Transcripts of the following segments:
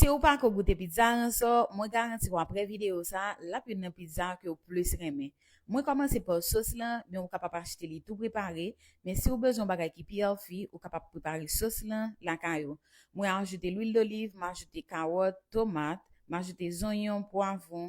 Siw pako goute pizza ransò, mwen garantiw aprè video sa lap youn nan pizza kew plus renmen. Mwen kòmanse paw sos lan, men ou kapab achte li tou prepare, men siw bezwen yon bagay ki pi healthy ou kapab prepare sos lan lakay ou. Mwen ajoute lwil doliv, m ajoute kawòt, tomat, m ajoute zonyon, pwavron,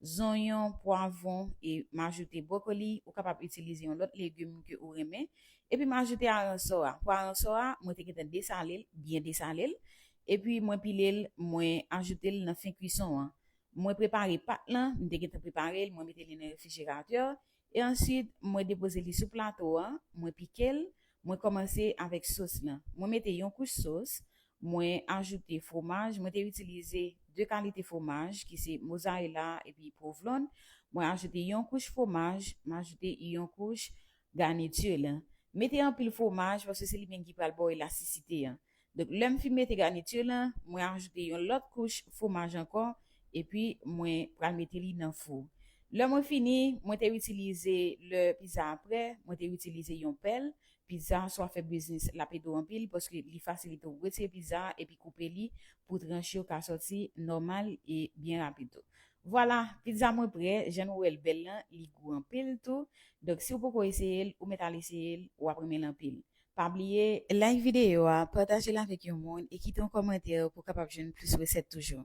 zonyon, pwavon e m ajoute brokoli, ou kapab itilize yon lòt legim ke ou renmen, epi m ajoute aransò a, pou aransò a mwen te gentan desale l, byen desale l, epi mwen pile l mwen ajoute l nan fen kwison an, mwen prepare pat lan, m te gentan prepare l mwen mete li nan refrijeratè E answit mwen depoze li sou plato an, mwen pikel, mwen komanse avèk sos lan. Mwen mete yon kouch sos, mwen ajoute fwomaj, mwen te itilize 2 kalite fwomaj ki se mozarela epi pwovlon, mwen ajoute yon kouch fwomaj, m ajoute yon kouch garniture lan. Mete anpil fwomaj paske se li menm ki pral baw elasticite an. Donk lè m fin mete garniture lan, mwen ajoute yon lòt kouch fwomaj ankò epi mwen pral mete li nan fou. Lè mwen fini, mwen te itilize lè pizza a prè, mwen te itilize yon pèl, pizza swa fè biznis lap ede w anpil paske li fasilite w retire pizza a epi koupe li pou tranche yo ka sòti nòmal e byen rapid tou. Vwala, pizza mwen prè, jan nou wè l bèl lan, li gou anpil tou, donk si w poko eseye l ou mèt al eseye l, wap renmen l anpil. Pa bliye like videyo a, pataje l avèk yon moun e kite yon kòmantè pou w kapab jwenn plis resèt toujou.